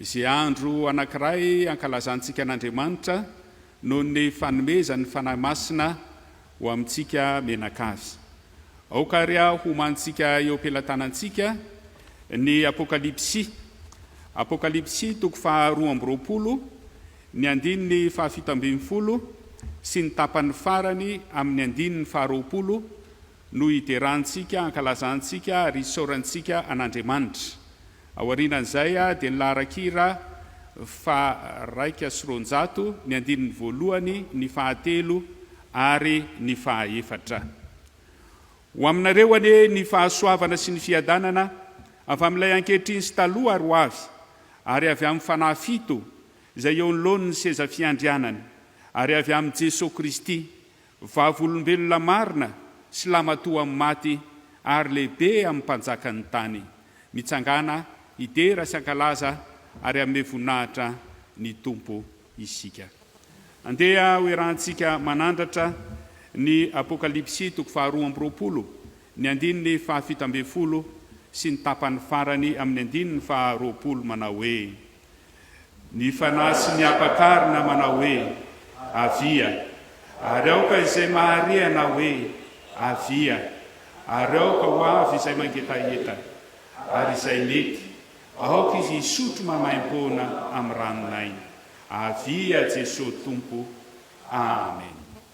Izay andro anankiray ankalazantsika an'Andriamanitra noho ny fanomezany ny Fanahy Masina ho amintsika mianakavy. Aoka àry homanintsika eo am-pelatanantsika ny Apokalypsy, Apokalypsy toko faharoa amby roapolo, ny andininy fahafito ambin'ny folo sy ny tapany farany amin'ny andininy faharoapolo no iderantsika, ankalazantsika ary isaorantsika an'Andriamanitra. Aorianan'izay dia ny laharan-kira faharaika sy roanjato, ny andininy voalohany, ny fahatelo ary ny fahaefatra. Ho aminareo anie ny fahasoavana sy ny fiadanana avy amin'Ilay ankehitriny sy taloha ary ho avy, ary avy amin'ny fanahy fito izay eo anoloan'ny seza fiandrianany, ary avy amin'i Jesoa Kristy, Vavolombelona marina sy lamatoa amin'ny maty ary lehibe amin'ny mpanjakan'ny tany. Mitsangàna hidera sy hankalaza ary hanome voninahitra ny Tompo isika. Andeha ho iarahantsika manandratra ny Apokalypsy toko faharoa amby roapolo, ny andininy fahafito ambin'ny folo sy ny tapany farany amin'ny andininy faharoapolo manao hoe. Ny Fanahy sy ny Ampakarina manao hoe, Avia! Ary aoka izay mahare hanao hoe, Avia! Ary aoka ho avy izay mangetaheta. Ary izay mety, aoka izy hisotro maimaim-poana amin'ny ranon'aina. Avia Jesoa Tompo. Amen.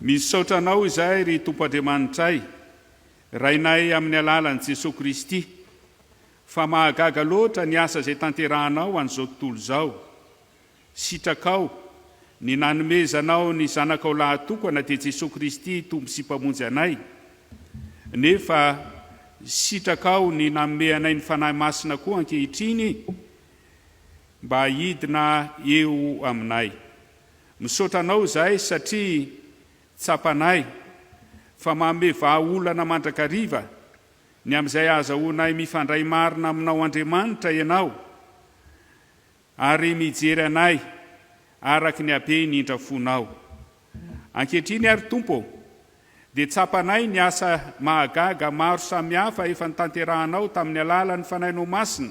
Misaotra Anao izahay, ry Tompo Andriamanitray, Rainay amin'ny alalan'i Jesoa Kristy, fa mahagaga loatra ny asa izay tanterahanao an'izao tontolo izao. Sitrakao ny nanomezanao ny Zanakao lahatokana, dia Jesoa Kristy Tompo sy Mpamonjy anay, nefa sitrakao ny nanome anay ny Fanahy Masina koa ankehitriny mba hidina eo aminay. Misaotra anao izahay satria tsapanay fa manome vahaolana mandrakariva ny amin'izay hahazahoanay mifandray marina aminao Andriamanitra ianao ary mijery anay araka ny habeny indra fonao. Ankehitriny ary Tompo ô dia tsapanay ny asa mahagaga maro samihafa efa notanterahanao tamin'ny alalan'ny Fanahinao Masina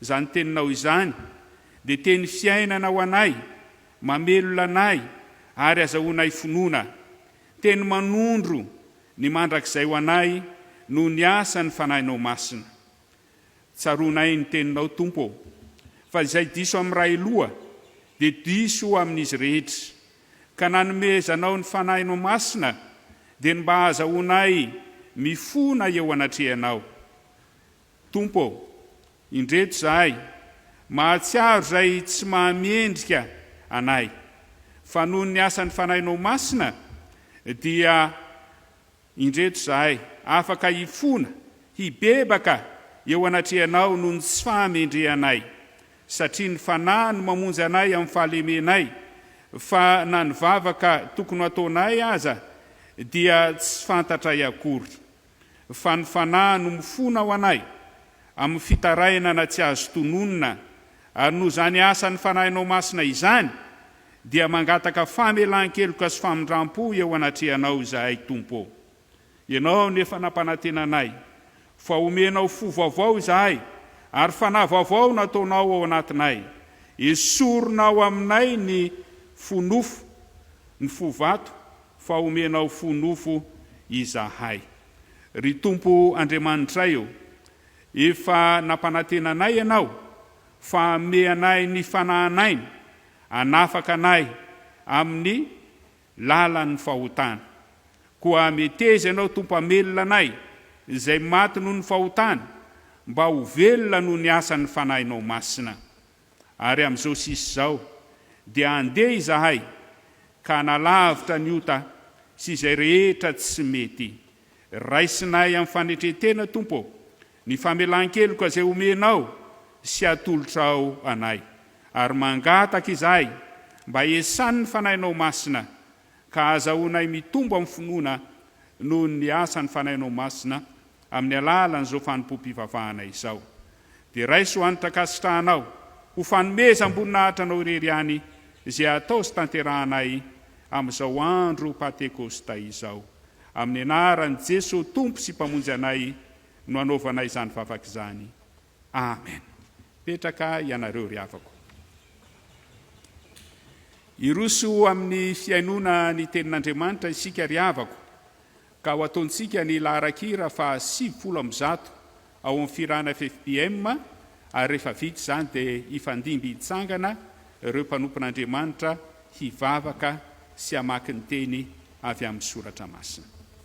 Izany teninao izany dia teny fiainana ho anay, mamelona anay ary azahoanay finoana. Teny manondro ny mandrakizay ho anay noho ny asan'ny Fanahinao Masina. Tsaroanay ny Teninao, Tompo ô, fa izay diso amin'ny ray loha dia diso amin'izy rehetra. Ka na nomezanao ny Fanahinao Masina dia ny mba hahazahoanay mifona eo anatrehanao. Tompo ô, indreto izahay, mahatsiaro izay tsy mahamendrika anay, fa noho ny asan'ny Fanahinao Masina dia indreto izahay afaka hifona, hibebaka eo anatrehanao noho ny tsy fahamendrehanay, satria ny Fanahy no mamonjy anay amin'ny fahalemenay, fa na ny vavaka tokony ho ataonay aza dia tsy fantatray akory. Fa ny Fanahy no mifona ao anay, amin'ny fitarainana tsy azo tononina, ary noho izany asan'ny Fanahinao Masina izany, dia mangataka famelan-keloka sy famindram-po eo anatrehanao izahay, Tompo ô. Ianao no efa nampanantena anay, fa homenao fo vaovao izahay, ary Fanahy vaovao no ataonao ao anatinay. Esorinao aminay ny fo nofo, ny fo vato, Fa omenao fo nofo izahay. Ry Tompo Andriamanitray ô, efa nampanantena anay Ianao fa hanome anay ny fanahanaina hanafaka anay amin'ny lalan'ny fahotana. Koa meteza Ianao Tompo hamelona anay izay maty noho ny fahotana mba ho velona noho ny asan'ny Fanahinao Masina. ary amin'izao sisa izao dia handeha izahay ka hanalavitra ny ota sy izay rehetra tsy mety. Raisinay amin'ny fanetren-tena, Tompo ô, ny famelan-keloka izay omenao sy atolotrao anay, ary mangataka izahay mba esan' ny Fanahinao Masina ka ahazahoanay mitombo amin'ny finoana noho ny asan'ny Fanahinao Masina amin'ny alalan'izao fanompoam-pivavahana izao. Dia raiso hanitra ankasitrahanao ho fanomezam-boninahitra Anao irery ihany izay atao sy tanterahanay amin'izao andro Pantekosta izao. Amin'ny anaran'i Jesoa Tompo sy Mpamonjy anay no anaovanay izany vavaka izany. Amen petraka ianareo ry havako. Hiroso amin'ny fihainoana ny tenin'Andriamanitra isika ry havako ka ho ataontsika ny laharakira faha sivifolo amby zato ao amin'ny firana FFBM ary rehefa vita izany dia hifandimby hitsangana ireo mpanompon'Andriamanitra hivavaka sy hamaky ny teny avy amin'ny soratra masina.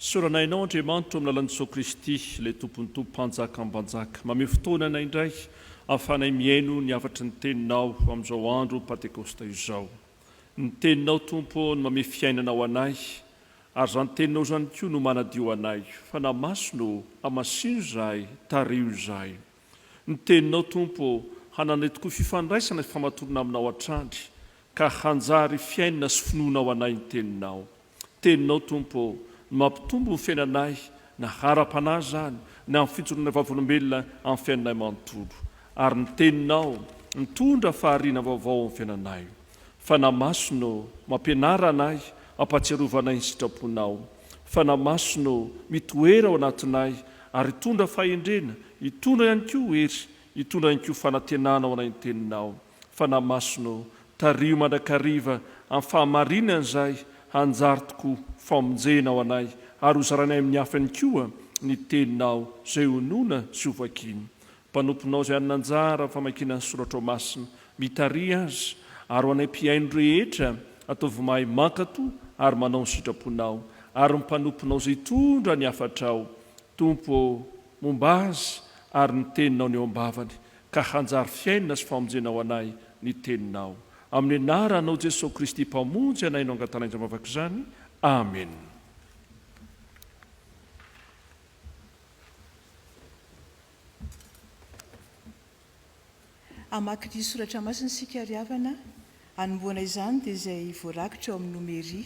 Sorana Enao Andriamanitro amin'ny lalan'i Jesosy Kristy, ilay Tompon'ny Tompo, Mpanjakam-banjaka. Mameho fotoana anay indray ahafahanay mihaino ny hafatry ny Teninao amin'izao andro Pantekosta izao. Ny Teninao, Tompo ô, no mamehy fiainana ho anay, ary izany Teninao izany koa no manadio anay. Fanahy Masina ô, hamasino izahay, tariho izahay. Ny Teninao, Tompo ô, hananay tokoa fifandraisana sy famatorana Aminao hatrany, ka hanjary fiainana sy finoana ho anay ny Teninao. Teninao Tompo ô, no mampitombo ny fiainanay na ara-panahy izany na amin'ny fijoroanay vavolombelona amin'ny fiainanay manontolo. Ary ny Teninao mitondra fahariana vaovao amin'ny fiainanay. Fanahy Masina ô, mampianara anay, mampahatsiarova anay ny sitraponao. Fanahy Masina ô, mitoera ao anatinay ary hitondra fahendrena, hitondra ihany koa hery, hitondra ihany koa fanantenana ho anay ny Teninao. Fanahy Masina ô, tariho mandrakariva amin'ny fahamarinana izay hanjary tokoa famonjena ho anay ary hozarainay amin'ny hafa ihany koa ny Teninao izay honoina sy hovakiana. Mpanomponao izay hanana anjara amin'ny famakiana ny Soratrao Masina, mitariha azy, ary ho anay mpihaino rehetra, ataovy mahay mankato ary manao ny sitraponao, ary ny mpanomponao izay hitondra ny hafatrao, Tompo ô, momba azy ary ny Teninao ny eo am-bavany, ka hanjary fiainana sy famonjena ho anay ny Teninao. Amin'ny anaranao Jesoa Kristy Mpamonjy anay no angatanay izany vavaka izany. Amena. Hamaky ny soratra masina isika ary havana, hanombohana izany dia izay voarakitra ao amin'ny Nomery.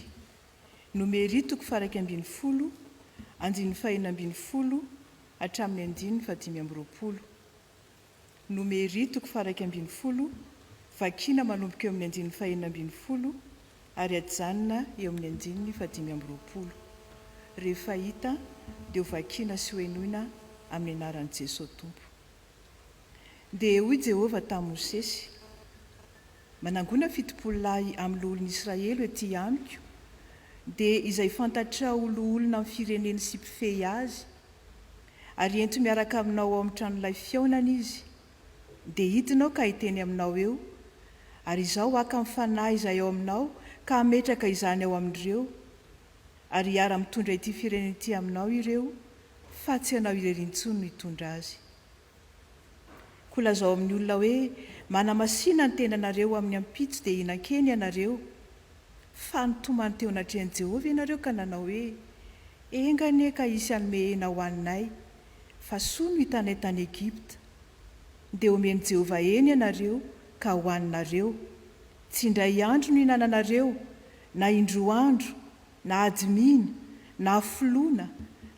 Nomery toko faha iraika ambin'ny folo, andininy faha enina ambin'ny folo hatramin'ny andininy faha dimy amby roapolo. Nomery, toko faharaika ambin'ny folo, vakiana manomboka eo amin'ny andininy fahenina ambin'ny folo ary hajanona eo amin'ny andininy fahadimy amby roapolo. Rehefa hita dia ho vakiana sy ho henoina amin'ny anaran'i Jesoa Tompo. Dia hoy Jehovah tamin'i Mosesy, Manangona fitopolo lahy amin'ny loholon'Israely ho ety amiko, dia izay fantatrao ho loholona amin'ny fireneny sy mpifehy azy, Ary ento miaraka aminao ao amin'ny tranolay fihaonana Izy, dia hidina aho ka hiteny aminao eo, ary Izaho haka ny Fanahy izay ao aminao ka hametraka izany ao amin'ireo, ary hiara-mitondra ity firenena ity aminao ireo, fa tsy ianao irery intsony no hitondra azy. Koa lazao amin'ny olona hoe, Manamasina ny tenanareo amin'ny ampitso dia hihinan-kena ianareo. Fa nitomany teo anatrehan'i Jehovah ianareo ka nanao hoe, Enga anie ka hisy hanome hena ho anay, fa soa no hitanay tany Egypta. Dia homen'i Jehovah hena ianareo ka hohaninareo. Tsy indray andro no ihinananareo, na indroa andro, na admina, na filoana,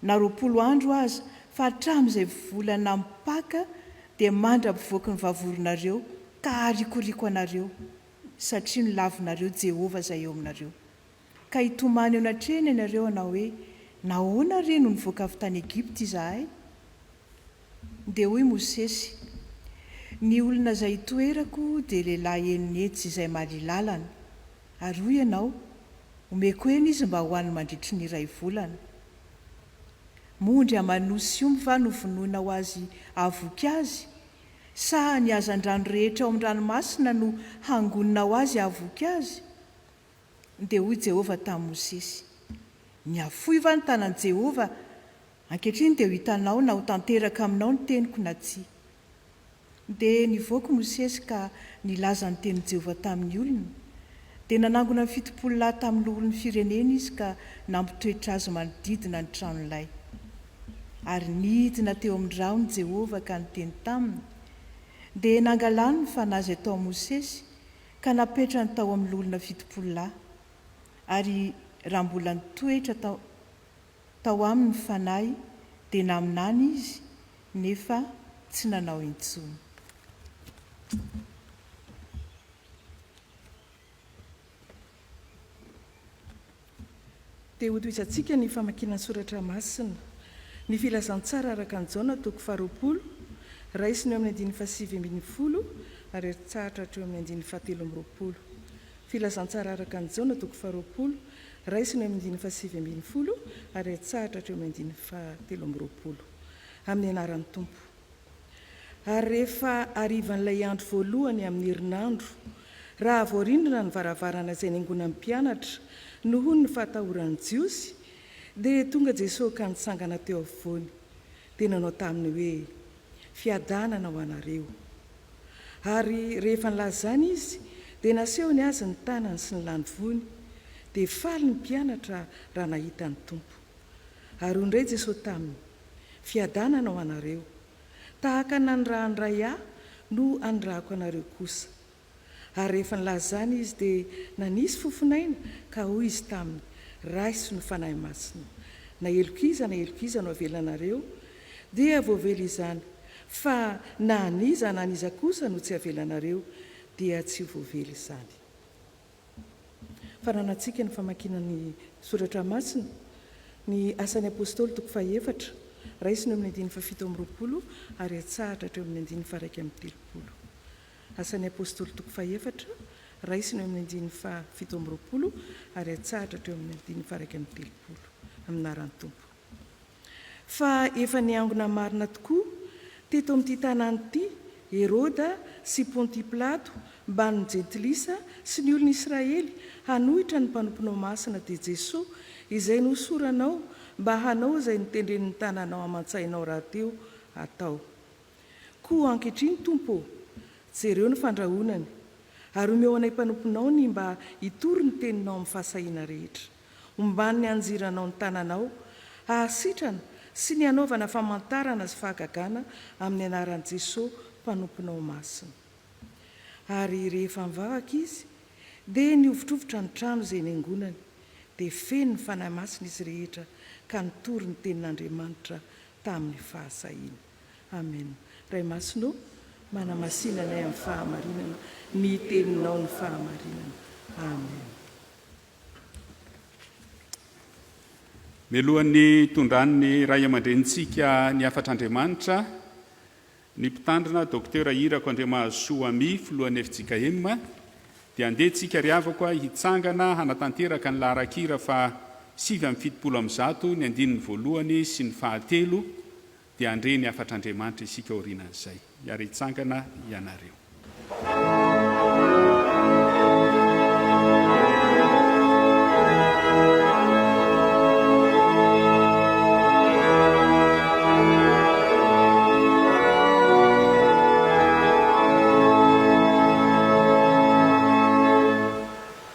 na roapolo andro aza fa hatramin'izay volana mipaka dia mandra-pivoaky ny vavoronareo ka harikoriko anareo, satria nolavinareo Jehovah izay eo aminareo. Ka hitomany eo anatrehany ianareo hanao hoe, Nahoana re no nivoaka avy tany Egypta izahay? Dia hoy Mosesy, Ny olona izay itoerako dia lehilahy enina hetsy izay mahalỳ lalana. Ary hoy ianao, Omeko hena izy mba hohaniny mandritry ny iray volana. Moa ondry aman'osy omby va no vonoina ho azy hahavoky azy? Sa ny hazandrano rehetra ao amin'ny ranomasina no hangonina ho azy hahavoky azy? Dia hoy Jehovah tamin'i Mosesy, Nihafoy va ny tanan'i Jehovah Ankehitriny dia ho hitanao na ho tanteraka aminao ny teniko na tsia. Dia nivoaka i Mosesy ka nilaza ny tenin'i Jehovah tamin'ny olony, dia nanangona ny fitopolo lahy tamin'ny loholon'ny firenena izy ka nampitoetra azy manodidina ny tranolay. Ary nidina teo amin'ny rahony Jehovah ka niteny taminy, dia nangalany ny fanahy izay tao amin'i Mosesy ka napetrany tao amin'ny loholona fitopolo lahy, ary raha mbola nitoetra tao tao aminy ny Fanahy dia naminany izy nefa tsy nanao intsony. Te hotohizantsika ny famakiana ny Soratra Masina. Ny Filazantsara araka an'i Jaona toko faharoapolo, raisina eo amin'ny andininy fahasivy ambin'ny folo ary aritsahatra hatreo amin'ny andininy fahatelo amby roapolo. Filazantsara araka an'i Jaona toko faharoapolo, Raisina eo amin'ny andininy fahasivy ambin'ny folo ary atsahatra hatreo amin'ny andininy fahatelo amby roapolo. Amin'ny anaran'ny Tompo. Ary rehefa harivan'ilay andro voalohany amin'ny herinandro, raha voarindrina ny varavarana izay niangonan'ny mpianatra nohon ny fahatahoran'ny Jiosy, dia tonga Jesoa ka nitsangana teo afovoany, dia nanao taminy hoe, Fiadanana ho anareo. Ary rehefa nilaza izany izy, dia nasehony azy ny tanany sy ny landivony. Dia faly ny mpianatra raha nahita ny Tompo. Ary hoy indray Jesosy taminy, Fiadanana ho anareo. Tahaka ny nanirahan'ny Ray Ahy no anirahako anareo kosa. Ary rehefa nilaza izany izy, dia nanisy fofonaina, ka hoy izy taminy, Raiso ny Fanahy Masina. Na heloka iza na heloka iza no avelanareo, Dia voavela izany, fa na an'iza na an'iza kosa no tsy avelanareo, dia tsy ho voavela izany. Fananantsika ny famakiana ny Soratra Masina, ny Asan'ny Apostoly toko fahaefatra, raisina eo amin'ny andininy fahafito amby roapolo ary atsahatra hatreo amin'ny andininy faharaika amby telopolo. Asan'ny Apostoly toko fahaefatra, raisina eo amin'ny andininy fahafito amby roapolo ary atsahatra hatreo amin'ny andininy faharaika amby telopolo. Aminà rà ny Tompo. Fa efa niangona marina tokoa teto amin'ity tanàna ity Heroda sy Pontia Pilato mbamin'ny Jentilisa sy ny olon'i Israely hanohitra ny mpanomponao masina dia Jesoa izay nohosoranao mba hanao izay notendren'ny tananao aman-tsainao rahateo hatao. Koa ankehitriny Tompo ô, jereo ny fandrahonany, ary omeo anay mpanomponao ny mba hitory ny teninao amin'ny fahasahiana rehetra. Omban' ny anjiranao ny tananao, hahasitrana, sy ny hanaovana famantarana sy fahagagana amin' ny anaran' i Jesosy Mpanomponao Masina. Ary rehefa nivavaka izy, dia nihovotrovotra ny trano izay niangonany, dia feno ny Fanahy Masina izy rehetra ka nitory ny tenin' Andriamanitra tamin' ny fahasahiana. Amena. Ray Masina ô, manamasina anay amin' ny fahamarinana ny Teninao, ny fahamarinana. Amena. Mialohan'ny hitondran'ny Ray aman-drenintsika ny hafatr'Andriamanitra, ny Mpitandrina, Docteur Irako Andriamahazosoa Amy, Filohan'ny fjkm, dia andeha tsika ry havako a, hitsangana hanatanteraka ny laharan-kira faha sivy amby fitopolo amby zato ny andininy voalohany sy ny fahatelo, Dia handre ny hafatr'Andriamanitra isika aorianan'izay. Miara hitsangana ianareo.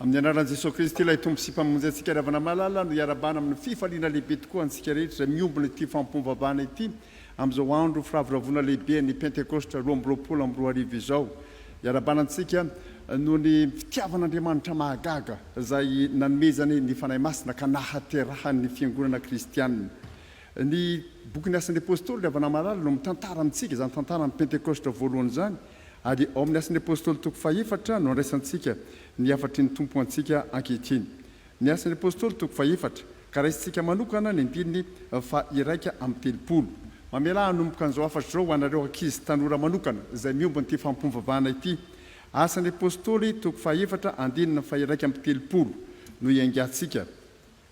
Amin'ny anaran'i Jesoa Kristy ilay Tompo sy Mpamonjy antsika ry havana malala no iarabana amin'ny fifaliana lehibe tokoa antsika rehetra izay miombona ity fampom-pavahana ity amin'izao andro firavoravoana lehibe ny Pentekosta roa amby roapolo amby roa arivo izao. Iarabana antsika noho ny fitiavan'Andriamanitra mahagaga izay nanomezany ny Fanahy Masina ka nahaterahany ny fiangonana kristianina. Ny bokin'ny Asan'ny Apostoly ry havana malala no mitantara amintsika izany tantaran'ny Pentekosta voalohany izany Ary ao amin'ny Asan'ny Apôstôly toko fahefatra no andraisantsika ny hafatry ny Tompo antsika ankehitriny. Ny Asan'ny Apôstôly toko fahefatra, ka raisintsika manokana ny andininy faha iraika amby telopolo. Mamelà hanomboka an'izao hafatra izao ho anareo ankizy tanora manokana izay miomba an'ity fampom-pivavahana ity. Asan'ny Apôstôly toko fahefatra andininy faha iraika amby telopolo no iangatsika.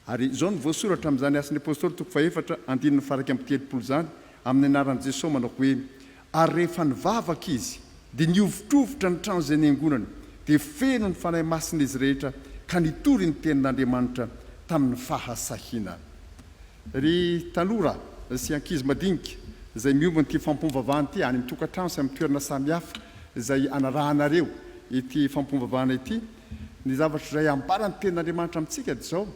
Ary izao no voasoratra amin'izany Asan'ny Apostoly toko fahefatra andininy faharaika amby telopolo izany, amin'ny anaran'i Jesosy manao hoe, Ary rehefa nivavaka izy, dia nihovitrovitra ny trano izay niangonany, dia feno ny Fanahy Masina izy rehetra, ka nitory ny tenin'Andriamanitra tamin'ny fahasahiana. Ry tanora sy ankizy madinika izay miombona ity fampiombom-bavahana ity, any amin'ny tokantrano sy amin'ny toerana samihafa izay anarahanareo ity fampiombom-bavahana ity, Ny zavatra izay ambaran'ny Tenin'Andriamanitra amintsika dia izao,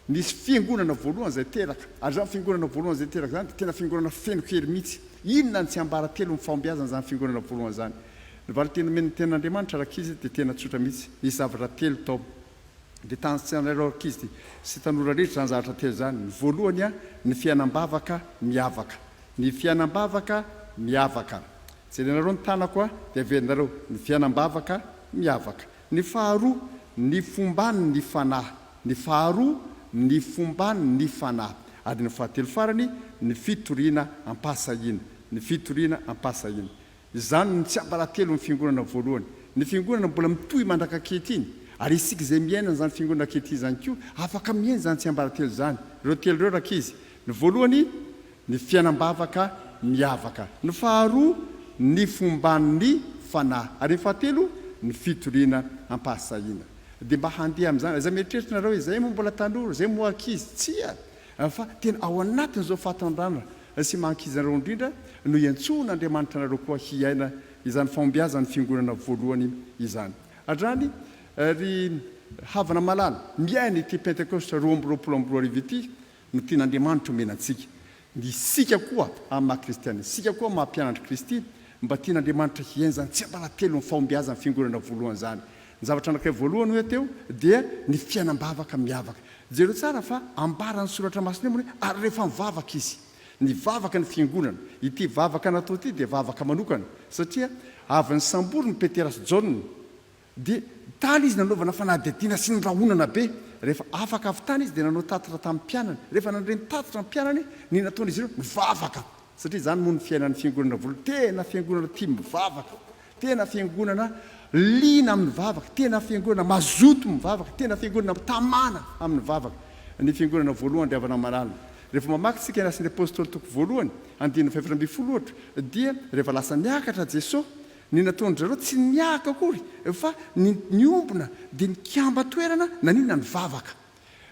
Nisy fiangonana voalohany izay teraka, ary izany fiangonana voalohany izay teraka izany dia tena fiangonana feno hery mihitsy. Inona no tsy ambara teo amin'ny fahombiazana izany fiangonana voalohany izany? Ny valinteny nomen'ny Tenin'Andriamanitra ary ankizy dia tena tsotra mihitsy. Nisy zavatra telo tao. Dia tany an-tsainareo ary ankizy sy tanora rehetra izany zavatra telo izany. Ny voalohany, ny fiainam-bavaka miavaka. Ny fiainam-bavaka miavaka. Jerenareo ny tanako dia averinareo. Ny fiainam-bavaka miavaka. Ny faharoa, ny fomban' ny fanahy. Ny faharoa, ny fomban' ny fanahy. Ady ny fahatelo farany, ny fitoriana am-pahasahiana. Ny fitoriana am-pahasahiana. Izany no tsiambaratelon' ny Fiangonana voalohany. Ny Fiangonana mbola mitohy mandraka ankehitriny, ary isika izay miaina an' izany Fiangonana ankehitriny izany koa, afaka miaina izany tsiambaratelo izany. Ireo telo ireo, rankizy. Ny voalohany, Ny fiainam-bavaka miavaka. Ny faharoa, ny fomban'ny fanahy. Ary ny fahatelo, ny fitoriana am-pahasahiana. Dia mba handeha amin'izany. Aza mieritreritra ianareo hoe, Izahay moa mbola tanora, izahay moa ankizy. Tsia! Fa tena ao anatin'izao fahatandràna sy maha-ankizinareo indrindra no iantsoan'Andriamanitra anareo koa hiaina izany fahombiazan'ny Fiangonana voalohany izany. Hatrany, ry havana malala, miaina ity Pentekosta roa amby roapolo amby roa arivo ity, Ny tian'Andriamanitra omena antsika. Ny isika koa amin'ny maha kristiana isika koa maha mpianatr'i Kristy, mba tian'Andriamanitra hihenjana tsy am-balatelon'ny fahombiazan'ny fiangonana voalohany izany. Ny zavatra anankiray voalohany hoe teo dia ny fiainam-bavaka miavaka. Jereo tsara fa ambaran'ny soratra masina eo moa ny hoe ary rehefa nivavaka izy. Nivavaka ny fiangonana. Ity vavaka natao ity dia vavaka manokana satria avy nisambory ny Petera sy Jaona Dia tany izy nanaovana fanadihadiana sy ny rahonana be. Rehefa afaka avy tany izy dia nanao tatitra tamin'ny mpianany. Rehefa nandre ny tatitra ny mpianany, ny nataon'izy ireo, nivavaka. Satria izany moa ny fiainan'ny Fiangonana voalohany. Tena Fiangonana tia mivavaka. Tena Fiangonana liana amin'ny vavaka. Tena Fiangonana mazoto mivavaka. Tena Fiangonana mitamana amin'ny vavaka. Ny Fiangonana voalohany dia havana aman'alina. Rehefa mamaky isika ny Asan'ny Apostoly toko voalohany, andininy fahaefatra ambin'ny folo ohatra, dia rehefa lasa niakatra Jesoa, Ny nataon-dry zareo tsy niahaka akory fa ny niombona dia nikamba toerana naniana ny vavaka.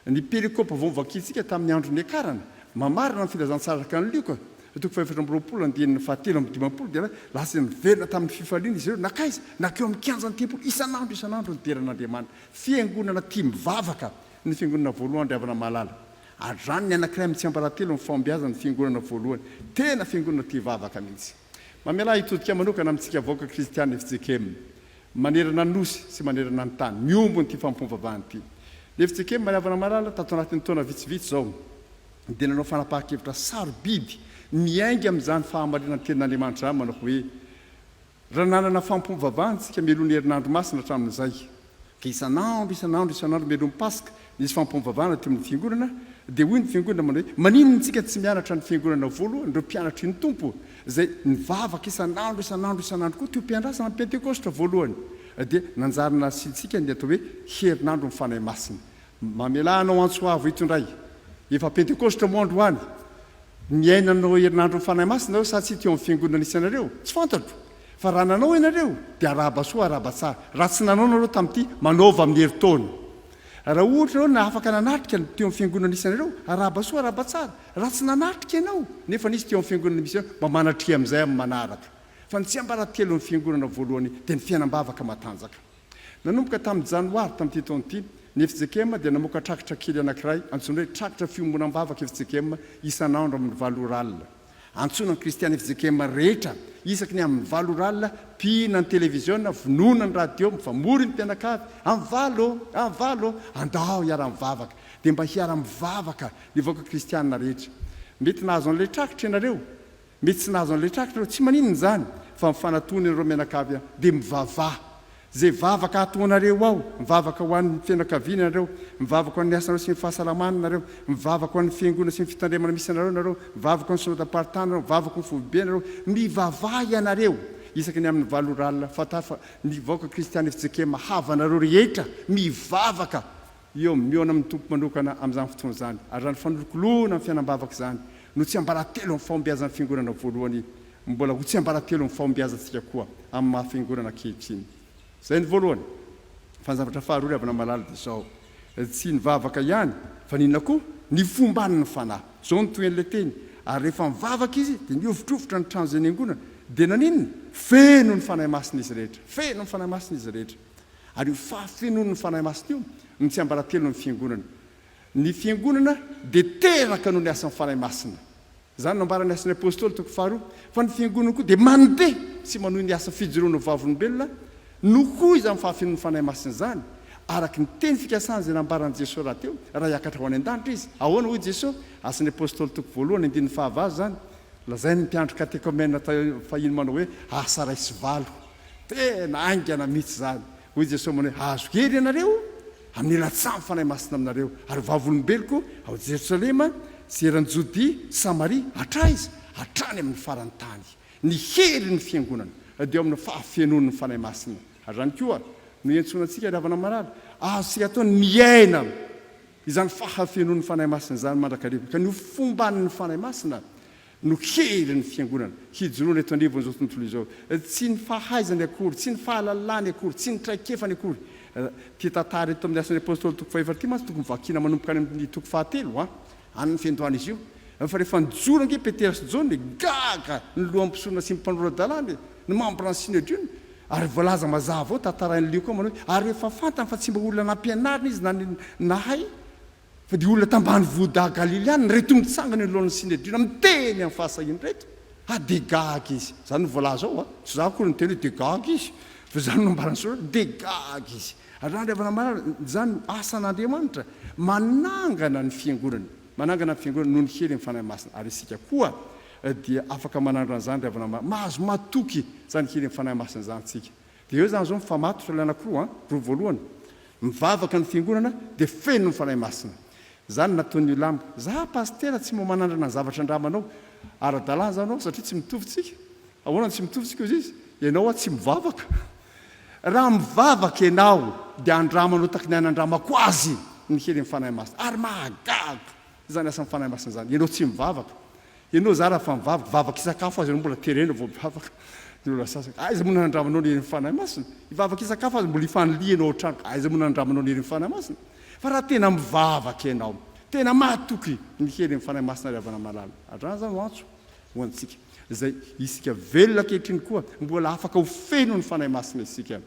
Ny perikopa vao novakiantsika tamin'ny andro niakarana, mamarana ny filazantsara araka an'i Lioka, toko fahefatra amby roapolo andininy fahatelo amby dimampolo, dia lasa niverina tamin'ny fifaliana izy ireo. Nankaiza? Nankeo amin'ny kianjan'ny tempoly. Isan'andro isan'andro nideran'Andriamanitra. Fiangonana tia mivavaka, ny fiangonana voalohany ry havana malala. Hatrany ny anankiray amin'ny tsiambaratelo ny fahombiazan'ny fiangonana voalohany. Tena fiangonana tia vavaka mihitsy. Mamelà hitodika manokana amintsika vahoaka kristiana FJKM manerana ny Nosy sy manerana ny tany miombo an'ity fanompoam-bavahana ity. Ny FJKM Ray Havana Malala tato anatin'ny taona vitsivitsy izao dia nanao fanapahan-kevitra sarobidy miainga amin'izany fahamarinan' ny tenin' Andriamanitra izany manao hoe, Raha nanana fanompoam-bavahana isika mialoha ny herinandro masina hatramin'izay, Ka isan'andro, isan'andro, isan'andro mialohan'ny Paska, nisy fampivavahana teo amin'ny fiangonana, dia hoy ny fiangonana manao hoe, Maninona isika tsy mianatra ny fiangonana voalohany, ireo mpianatry ny Tompo, izay nivavaka isan'andro, isan'andro, isan'andro koa teo am-piandrasana ny Pentekositra voalohany? Dia nanjary nasiantsika ny atao hoe Herinandron'ny Fanahy Masina. Mamelà anao antso avo eto indray. Efa Pentekositra moa androany? Niaina an'ireo Herinandron'ny Fanahy Masina nareo sa tsia teo amin'ny fiangonana nisy anareo? Tsy fantatro. Fa raha nanao ianareo dia arahaba soa arahaba tsara. Raha tsy nanao nareo tamin'ity, manaova amin'ny herintaona. Raha ohatra ianao na afaka nanatrika ny teo amin'ny fiangonana nisy anareo, arahaba soa arahaba tsara. Raha tsy nanatrika ianao, nefa nisy teo amin'ny fiangonana misy anao, mba manatria amin'izay amin'ny manaraka. Fa ny tsiambaratelon'ny fiangonana voalohany dia ny fiainam-bavaka matanjaka. Nanomboka tamin'ny Janoary tamin'ity taona ity, ny FJKM dia namoaka trakitra kely anankiray antsoina hoe Trakitra Fiombonam-bavaka FJKM isan'andro amin'ny valo ora alina. Antsoina ny Kristiana fjkm rehetra, isaky ny amin'ny valo ora alina, mpihina ny televiziona, vonoina ny radio, mifamory ny mpianakavy, amin'ny valo! Amin'ny valo! Andao hiara-mivavaka! Dia mba hiara-mivavaka ny vahoaka kristiana rehetra. Mety nahazo an'ilay trakitra ianareo, mety tsy nahazo an'ilay trakitra ianareo, tsy maninona izany, fa mifanatona ianareo mianakavy an! Dia mivavaha! Izay vavaka hataonareo ao, mivavaka ho an'ny fianakaviana ianareo, mivavaka ho an'ny asanareo sy ny fahasalamana ianareo, mivavaka ho an'ny fiangonana sy ny fitandremana misy anareo ianareo, mivavaka ho an'ny synodam-paritany ianareo, mivavaka ho ny foibe ianareo, mivavaha ianareo isaky ny amin'ny valo ora alina, fantaro fa ny vahoaka kristiana efa tsy ekema, havanareo rehetra mivavaka Eo, mihaona amin'ny Tompo manokana amin'izany fotoana izany, ary izany fanolokoloana ny fiainam-bavaka izany no tsiambaratelon'ny fahombiazan'ny Fiangonana voalohany, mbola ho tsiambaratelon'ny fahombiazantsika koa amin'ny maha Fiangonana ankehitriny. Izay ny voalohany. Fa ny zavatra faharoa, ry havana malala, dia izao, tsy ny vavaka ihany, fa n'inona koa? Ny fomban'ny Fanahy. Izao no tohin'ilay teny, Ary rehefa nivavaka izy, dia nihovitrovitra ny trano izay niangonana, dia naninona? Feno ny Fanahy Masina izy rehetra. Feno ny Fanahy Masina izy rehetra. Ary io fahafenoan'ny Fanahy Masina io no tsiambaratelon'ny Fiangonana. Ny Fiangonana dia teraka noho ny asan'ny Fanahy Masina. Izany no nambaran'ny Asan'ny Apôstôly, toko faharoa, fa ny Fiangonana koa dia mandeha sy manohy ny asa fijoroana ho vavolombelona no koa izany fahafenoan'ny Fanahy Masina izany, araka ny teny fikasana izay nambaran'i Jesoa rahateo, raha hiakatra ho any an-danitra Izy. Ahoana hoy Jesoa? Asan'ny Apôstôly, toko voalohany, andininy fahavalo izany. Lazain'ny mpiandry katekomena fahiny manao hoe, asa iray sy valo. Tena haingana mihitsy izany! Hoy i Jesoa manao hoe, Hahazo hery ianareo amin'ny rantsan'ny Fanahy Masina aminareo, ary vavolombeloko ao Jerosalema sy eran'i Jodia sy Samaria, hatraha aiza? hatrany amin'ny faran'ny tany. Ny herin'ny Fiangonana dia eo amin'ny fahafenoan'ny Fanahy Masina. Ary izany koa no iantsoana antsika, ry havana marary. Azontsika atao ny miaina izany fahafenoan'ny Fanahy Masina izany mandrakariva, ka ny ho fomban'ny Fanahy Masina. no hery ny fiangonana hijoroana eto anivon'izao tontolo izao. Tsy ny fahaizany akory, tsy ny fahalalany akory, tsy ny traikefany akory. Ity tantara eto amin'ny Asan'ny Apostoly toko fahefatra ity mantsy tokony vakiana manomboka any amin'ny toko fahatelo an, any fiandohana izy io. Fa rehefa nijoro ange Petera sy Jaona e, gaga ny lohan'ny mpisonona sy ny mpanora-dalàna e, ny mambran'ny Synedriona. Ary voalaza mazava ao, tantarain'i Lioka manao hoe, ary rehefa fantany fa tsy mba olona nampianarina izy na nahay, Fa dia olona tambanivohida Galiliana ireto mitsangana eo anoloan'ny Synedriona miteny amin'ny fahasahiany ireto? Ah, dia gaga izy! Izany no voalaza ao an! Tsy izaho akory niteny hoe dia gaga izy, fa izany no nambaran'ny soratra hoe dia gaga izy. Andrianan'ny Havana Marary, izany no asan'Andriamanitra, manangana ny Fiangonany, manangana ny Fiangonany noho ny heriny Fanahy Masina. Ary isika koa dia afaka manandrana izany ry havana marary, mahazo matoky izany heriny Fanahy Masina izany isika. Dia eo izany izao mifamatotra ilay anankiroa an! Roa voalohany mivavaka ny fiangonana dia feno ny Fanahy Masina. Za no nataon'io lamba. Za pasitera tsy mba manandrana ny zavatra andramanao. Ara-dalàna izany ho'a satria tsy mitovy tsika. Ahoana no tsy mitovy tsika hoy izy. Ianao ho'a tsy mivavaka. Raha mivavaka ianao dia andramanao takin'ny ahy nandramako azy ny helin'ny Fanahy Masina. Ary mahagaga izany asan'ny Fanahy Masina izany. Ianao tsy mivavaka. Ianao zara fa mivavaka, vavaka isakafo aza ianao mbola terena vao mivavaka ny olona sasany aiza moa nanandramanao ny herin'ny fanahy masina? Hivavaka isakafo aza mbola hifaniliha ianao ao an-trano aiza moa nanandramanao ny herin'ny fanahy masina? Fa raha tena mivavaka ianao, tena mahatoky ny herin'ny fanahy masina ry havana malala, andrana zany ho antso ho antsika izay isika velona ankehitriny koa mbola afaka ho feno ny fanahy masina isika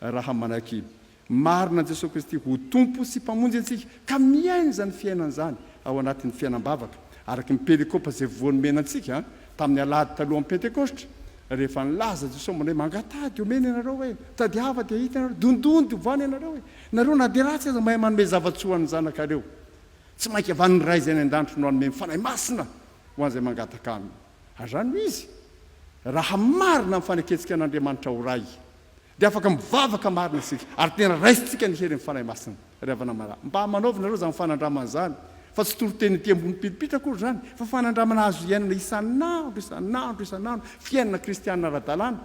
raha manaiky Marina an'i Jesoa Kristy ho Tompo sy Mpamonjy antsika ka miaina izany fiainana izany ao anatin'ny fiainam-bavaka araka ny perikopa izay voa nomena antsika tamin'ny alahady talohan'ny Pentekositra rehefa nilaza Jesoa aminay mangataha dia omena ianareo hoe tadiava dia hita ianareo dondony dia ovana ianareo hoe nareo na dia ratsy aza mahay manome zava-tsoa an'ny zanakareo tsy mainka avy an'ny Ray izay any an-danitro no hanome ny Fanahy Masina ho an'izay mangataka Aminy ary izany no izy raha marina ny fanekentsika an'Andriamanitra ho Ray Dia afaka mivavaka marina isika, ary tena raisintsika ny herin'ny Fanahy Masina. Ry havana malala, mba manaovy nareo izany fanandramana izany, fa tsy toriteny ety ambony piripitra akory izany, fa fanandramana azo iainana isan'andro, isan'andro, isan'andro, fiainana kristiana ara-dalàna.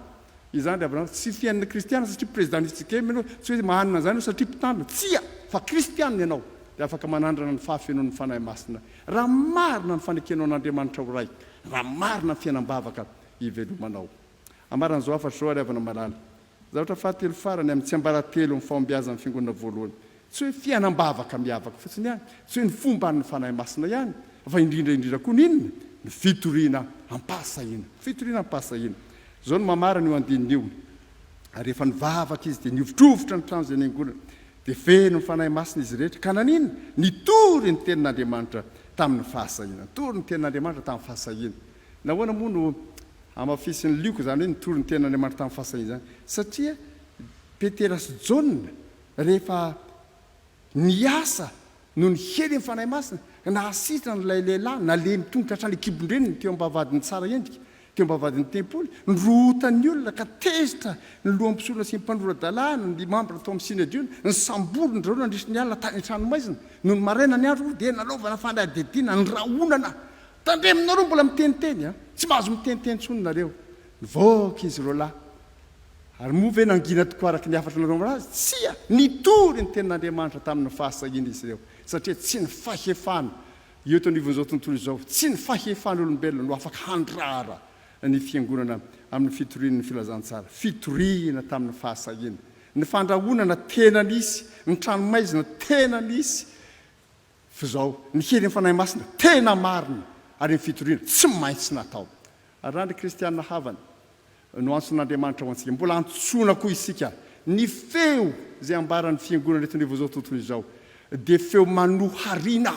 Izany ry havana malala, tsy fiainana kristiana satria prezidàn'i Sikeme ianao, tsy hoe manana izany ianao satria mpitandrina, tsia, fa kristiana ianao, dia afaka manandrana ny fahafenoan'ny Fanahy Masina, raha marina ny fanekenao an'Andriamanitra ho Ray, raha marina ny fiainam-bavaka ivelomanao. Ambaran'izao hafatra izao ary havana malala. Zavatra fahatelo farany amin'ny tsiambaratelo amin'ny fahombiazan'ny Fiangonana voalohany. Tsy hoe fiainam-bavaka miavaka fotsiny ihany, tsy hoe ny fomban'ny Fanahy Masina ihany, fa indrindra indrindra koa ny inona? Ny fitoriana am-pahasahiana. Ny fitoriana am-pahasahiana. Izao no mamarana io andininy io, Ary rehefa nivavaka izy dia nihovitrovitra ny trano izay niangonany, dia feno ny Fanahy Masina izy rehetra, ka naninona? Nitory ny tenin'Andriamanitra tamin'ny fahasahiana. Nitory ny tenin'Andriamanitra tamin'ny fahasahiana. Nahoana moa no hamafisin'i Lioka izany hoe nitory ny tenin'Andriamanitra tamin'ny fahasahiana izany? Satria Petera sy Jaona, rehefa niasa noho ny helin'ny fanahy masina, ka nahasitrana an'ilay lehilahy nalemy tongotra hatrany an-kibon-dreniny teo am-bavahadin'ny tsara endrika, teo am-bavahadin'ny tempoly, nirorotan'ny olona ka tezitra ny lohan'ny mpisorona sy ny mpanora-dalàna, ny mambra tao amin'ny Synedriona, nisamborina zareo nandritra ny alina tany an-tranomaizina. Nony maraina ny andro dia nanaovana fanadihadiana ny rahonana Tandremonareo mbola miteniteny a! Tsy mahazo miteniteny tsony nareo. Nivoaka izy roalahy. Ary moa ve nangina tokoa araka ny hafatra nanaovana azy? Tsia! Nitory ny tenin'Andriamanitra tamin'ny fahasahiana izy ireo, satria tsy ny fahefana eo eto anivon'izao tontolo izao, tsy ny fahefan'olombelona no afaka handrara ny fiangonana amin'ny fitorian'ny filazantsara. Fitoriana tamin'ny fahasahiana. Ny fandrahonana tena nisy, ny tranomaizina tena nisy. F'izao, ny helin'ny Fanahy Masina tena marina ary ny fitoriana tsy maintsy natao. Ary raha ny kristiana havany no antson'Andriamanitra ho antsika, mbola antsoina koa isika, ny feo izay ambaran'ny fiangonana eto anivon'izao tontolo izao dia feo manohariana.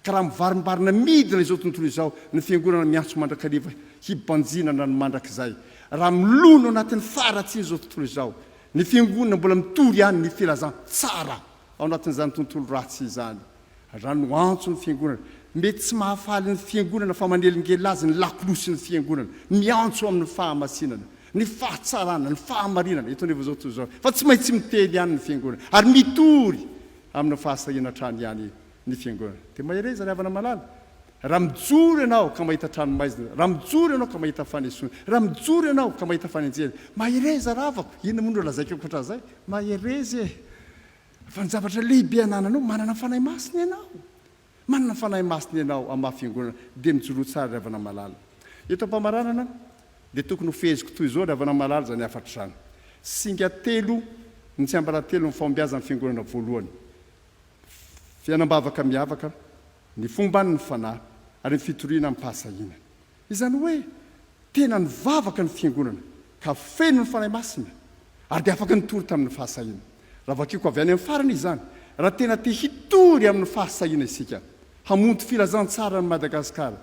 Ka raha mivarimbarina midina izao tontolo izao ny fiangonana miantso mandrakariva hibanjinana ny mandrakizay, raha milona ao anatin'ny faharatsian'izao tontolo izao ny fiangonana mbola mitory ihany ny filazantsara, ao anatin'izany tontolo ratsy izany. Raha no antso ny Fiangonana, mety tsy mahafaly ny Fiangonana fa manelingelina azy ny lakolosy ny Fiangonana, miantso amin'ny fahamasinana, ny fahatsarana, ny fahamarinana, eto anivon'izao tontolo izao. Fa tsy maintsy miteny ihany ny Fiangonana ary mitory amin'ny fahasahiana hatrany ihany. ny fiangonana. Dia mahereza ry havana malala. Raha mijoro ianao ka mahita trano maizina, raha mijoro ianao ka mahita fanesoana, raha mijoro ianao ka mahita fanenjehana, mahereza ravako! Inona moa no lazaiko ankoatra an'izay? Mahereza e! Fa ny zavatra lehibe anananao, manana ny Fanahy Masina ianao. Manana ny Fanahy Masina ianao amin'ny maha fiangonana, dia mijoroa tsara ry havana malala. Eto am-pamaranana, dia tokony ho feheziko toy izao ry havana malala izany hafatra izany. Singa telo ny tsiambaratelon'ny fahombiazan'ny fiangonana voalohany. Fiainam-bavaka miavaka ny fomban' ny Fanahy ary ny fitoriana amim-pahasahiana. Izany hoe, tena nivavaka ny Fiangonana ka feno ny Fanahy Masina ary dia afaka nitory tamin' ny fahasahiana. Raha vakiko avy any amin' ny farany izany, raha tena te hitory amin' ny fahasahiana isika, hamonto Filazantsara ny Madagasikara,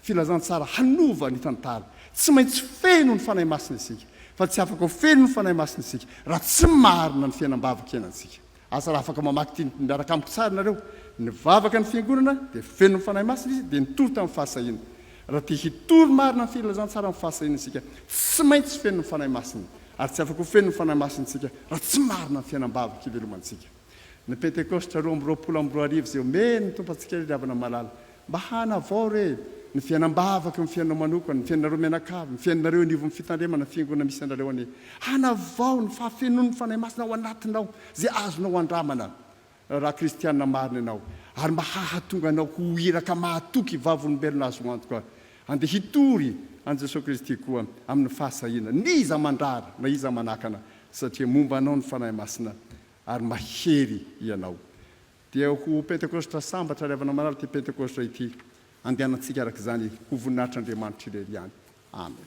Filazantsara hanova ny tantara, tsy maintsy feno ny Fanahy Masina isika, fa tsy afaka ho feno ny Fanahy Masina isika raha tsy marina ny fiainam-bavaka iainantsika. Asa raha afaka mamaky ity miaraka amiko tsara nareo, Nivavaka ny Fiangonana dia feno ny Fanahy Masina izy dia nitory tamin'ny fahasahiana. Raha te hitory marina ny filazantsara amin'ny fahasahiana isika, tsy maintsy feno ny Fanahy Masina. Ary tsy afaka ho feno ny Fanahy Masina isika raha tsy marina ny fiainam-bavaka ivelomantsika. Ny Pentekosta roa amby roapolo amby roa arivo izay omen'ny Tompo antsika ry ry havana malala, Mba hanavao re ny fiainam-bavaka eo amin'ny fiainanao manokana, ny fiainanareo mianakavy, ny fiainanareo eo anivon'ny fitandremana, fiangonana misy anareo anie. Hanavao ny fahafenoan'ny Fanahy Masina ao anatinao izay azonao andramana raha kristiana marina ianao, ary mba hahatonga anao ho iraka mahatoky vavolombelona azo antoka handeha hitory an'i Jesoa Kristy koa amin'ny fahasahiana n'iza mandrara na iza manakana, satria momba anao ny Fanahy Masina ary mahery ianao. Dia ho Pentekositra sambatra ry havana marary ity Pentekositra ity andehanantsika araka izany ho voninahitr'Andriamanitra irery ihany. Amen.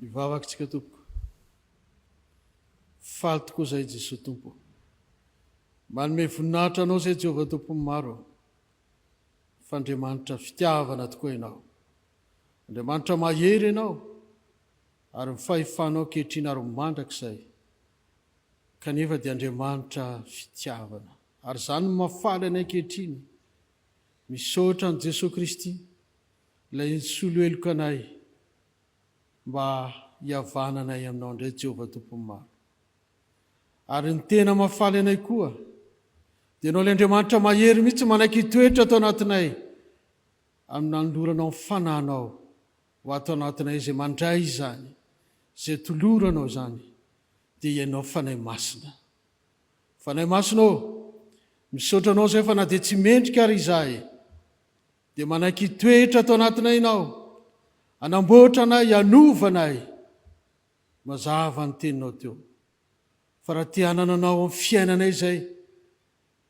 Hivavaka tsika tompoko. Faly tokoa zay Jesoa Tompo ô. Manome voninahitra anao zay Jehovah Tompon'ny maro ô. Fa Andriamanitra fitiavana tokoa ianao. Andriamanitra mahery ianao. Ary ny fahefanao ankehitriny ary ho mandrakizay, kanefa dia Andriamanitra fitiavana. Ary izany no mahafaly anay ankehitriny. Misaotra an'i Jesoa Kristy, Ilay nisolo heloka anay, mba hihavananay Aminao indray, Jehovah Tompon'ny maro. Ary ny tena mahafaly anay koa, dia Ianao ilay Andriamanitra mahery mihitsy manaiky hitoetra ato anatinay, amin'ny nanoloranao ny Fanahinao Ho ato anatinay izay mandray izany, izay toloranao izany, dia Ianao Fanahy Masina. Fanahy Masina ô, misaotra Anao izay fa na dia tsy mendrika ary izahay, dia manaiky hitoetra ato anatinay Ianao, hanamboatra anay, hanova anay. Mazava ny Teninao teo, fa raha te-hanana Anao amin'ny fiainanay izay,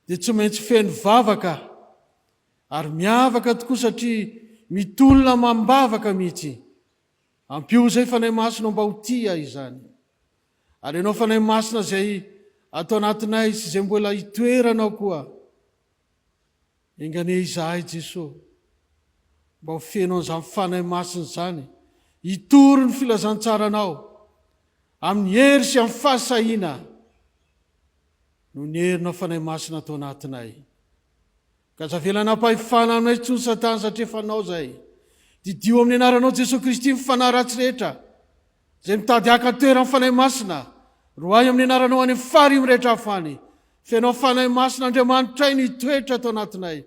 dia tsy maintsy feno vavaka ary miavaka tokoa satria mitolona amam-bavaka mihitsy. Ampio izay Fanahy Masina mba ho tia izany. Ary ianao Fanahy Masina izay ato anatinay sy izay mbola hitoeranao koa, enganie izahay Jesoa mba ho feno an'izany Fanahy Masina izany hitory ny filazantsaranao amin'ny hery sy amin'ny fahasahiana. no nierinao Fanahy Masina tao anatinay. Ka aza avela nampahefana anay intsony Satana satria efa anao izay. Didio amin'ny anaranao Jesoa Kristy ny fanahy ratsy rehetra izay mitady haka toeran'ny Fanahy Masina. Roahy amin'ny anaranao any amin'ny fary mirehitra afo any. Fenao Fanahy Masina Andriamanitray ny hitoetra tao anatinay.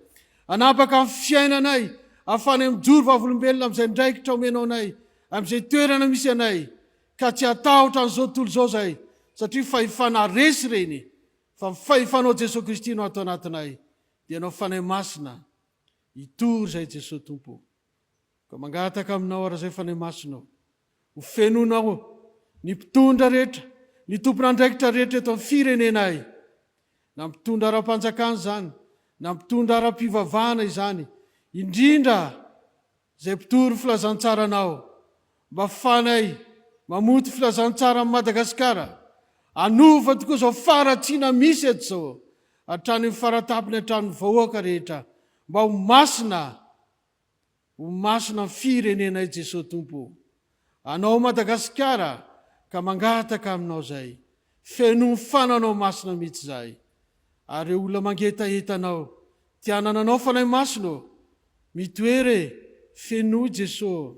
Anapaka amin'ny fiainanay ahafanay mijoro vavolombelona amin'izay andraikitra omenao anay, amin'izay toerana misy anay. ka tsy hatahotra an'izao tontolo izao izay satria fahefana resy ireny fa ny fahefanao Jesoa Kristy no ato anatinay dia anao Fanahy Masina hitory izay Jesoa Tompo o! ka mangataka aminao arak'izay Fanahy Masina o! ho fenonao ny mpitondra rehetra ny tompon'andraikitra rehetra eto amin'ny firenenay na mpitondra ara-panjakana izany na mpitondra ara-pivavahana izany indrindra Izay mpitory filazantsaranao mba fanay mamoty filazantsara am Madagasikara anova tokoa zao faratsiana misy eto zao hatrany am faratapiny hatrany vahoaka rehetra mba ho masina ho masina am firenenay Jesoa Tompo o. anao Madagasikara ka mangataka aminao izay feno ny fananao masina mitsy izahay ary reo olona mangetaheta anao te hanana anao fanahy masina ô mitoera e fenoy Jeso ô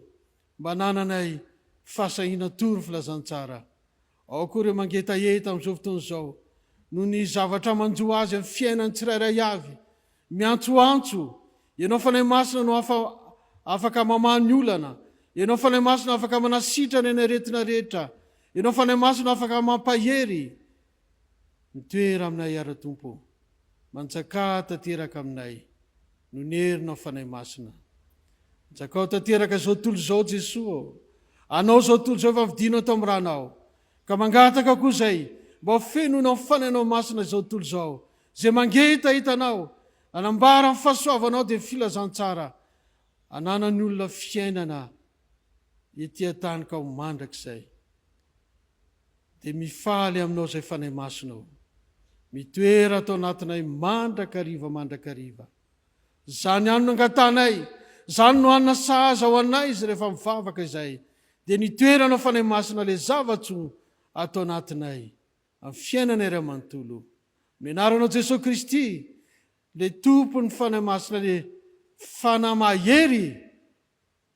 mba anananay fahasahiana tory filazantsara Ao koa ireo mangetaheta amin'izao fotoana izao noho ny zavatra manjo azy amin'ny fiainany tsirairay avy, miantsoantso, Ianao Fanahy Masina no afa, afaka mamaha ny olana, Ianao Fanahy Masina afaka manasitrana ny aretina rehetra, Ianao Fanahy Masina afaka mampahery. Mitoera aminay Ara-Tompo. Manjakà tanteraka aminay. Nonerina Fanahy Masina. Jakao tanteraka izao tontolo izao Jesoa ô! Anao izao tontolo izao efa vidinao tamin'ny Ranao. Ka mangataka koa izay, mba ho fenoina amin'ny Fanahinao Masina izao tontolo izao. Izay mangetaheta Anao, hanambara ny fahasoavanao dia filazantsara ananan'ny olona fiainana ety an-tany ka ho mandrakizay. Dia mifaly aminao izay Fanahy Masina o. Mitoera ato anatinay mandrakariva mandrakariva. Izany ihany no angatahanay, izany no hanina sahaza ho anay izy rehefa mivavaka izay. Dia ny toeranao Fanahy Masina ilay zava-tsoa ato anatinay, amin'ny fiainanay iray manontolo. Amin'ny anaranao Jesoa Kristy, ilay Tompon'ny Fanahy Masina, ilay Fanahy mahery.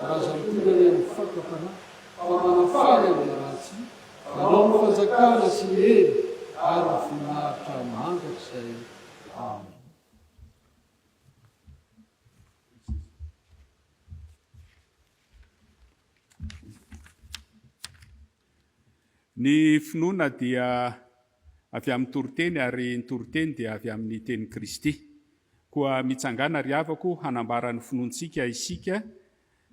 Razampirenena Fakam-panahy fa manafana ny ratsy, Anao no fanjakana sy ny hery ary ny voninahitra mandrakizay. Amen. Ny finoana dia avy amin'ny toriteny ary ny toriteny dia avy amin'ny tenin'i Kristy. Koa mitsangàna ry havako hanambara ny finoantsika isika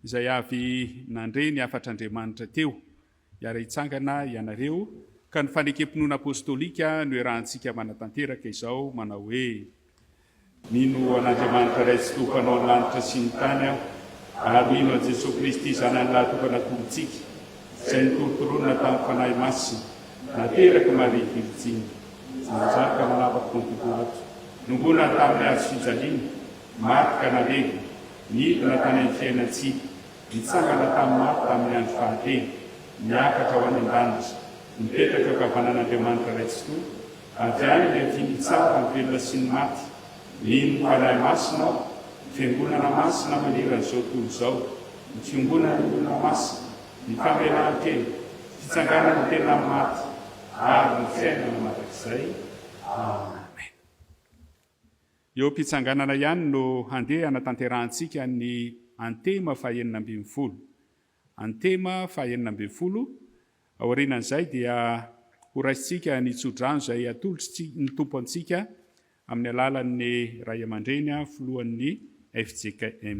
izay avy nandre ny hafatr'Andriamanitra teo. Hiara-hitsangana ianareo ka ny fanekempinoana apostolika no iarahantsika manatanteraka izao manao hoe. Mino an'Andriamanitra Ray sy Tompo Mpanao ny lanitra sy ny tany aho, ary mino an'i Jesoa Kristy Zanany lahatokana Tompontsika, Izay nitorontoronina tamin'ny Fanahy Masina, naterak'i Maria Virjiny, nanjaka ao lava Ponty Pilato, nongona tamin'ny hazo fijaliana, maty ka nalevina, nidina tany amin'ny fiainan-tsia, nitsangana tamin'ny maty tamin'ny andro fahatelo, niakatra ho any an-danitra, mipetraka ankavanan'Andriamanitra Ray Tsitoha, Avy any ny aty mpitsara ny velona sy ny maty, mino fa Ray Masina aho, ny Fiangonana Masina manerana izao tontolo izao, ny Fiongonan'ny Olona Masina, ny Famelahan-tena, Fitsanganan'ny tena amin'ny maty, ary ny Fiainana mandrakizay. Amen. Eo am-pitsanganana ihany no handeha hanatanterahantsika ny Antema fahenina ambin'ny folo. Antema faha enina ambin'ny folo, Aorianan'izay dia horaisintsika ny tsodrano izay atolotry ny Tompo antsika amin'ny alalan'ny Ray aman-dReny Filohan'ny fjkm.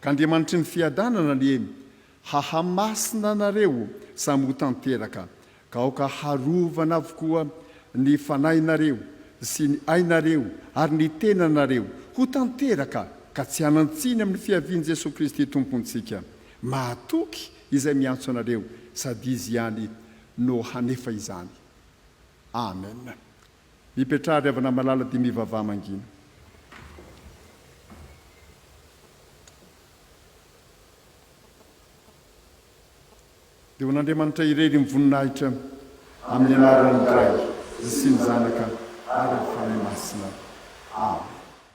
Ka Andriamanitry ny fiadanana anie hahamasina anareo samy ho tanteraka, ka aoka harovana avokoa ny fanahinareo sy ny ainareo ary ny tenanareo ho tanteraka ka tsy hanan-tsiny amin'ny fiavian'i Jesoa Kristy Tompontsika. Mahatoky Izay miantso anareo sady Izy ihany no hanefa izany. Amen. Mipetraha ry havana malala dia mivavaha mangina. Dia ho an'Andriamanitra irery ny voninahitra. Amin'ny anaran'ny Ray sy ny Zanaka ary ny Fanahy Masina. Amena.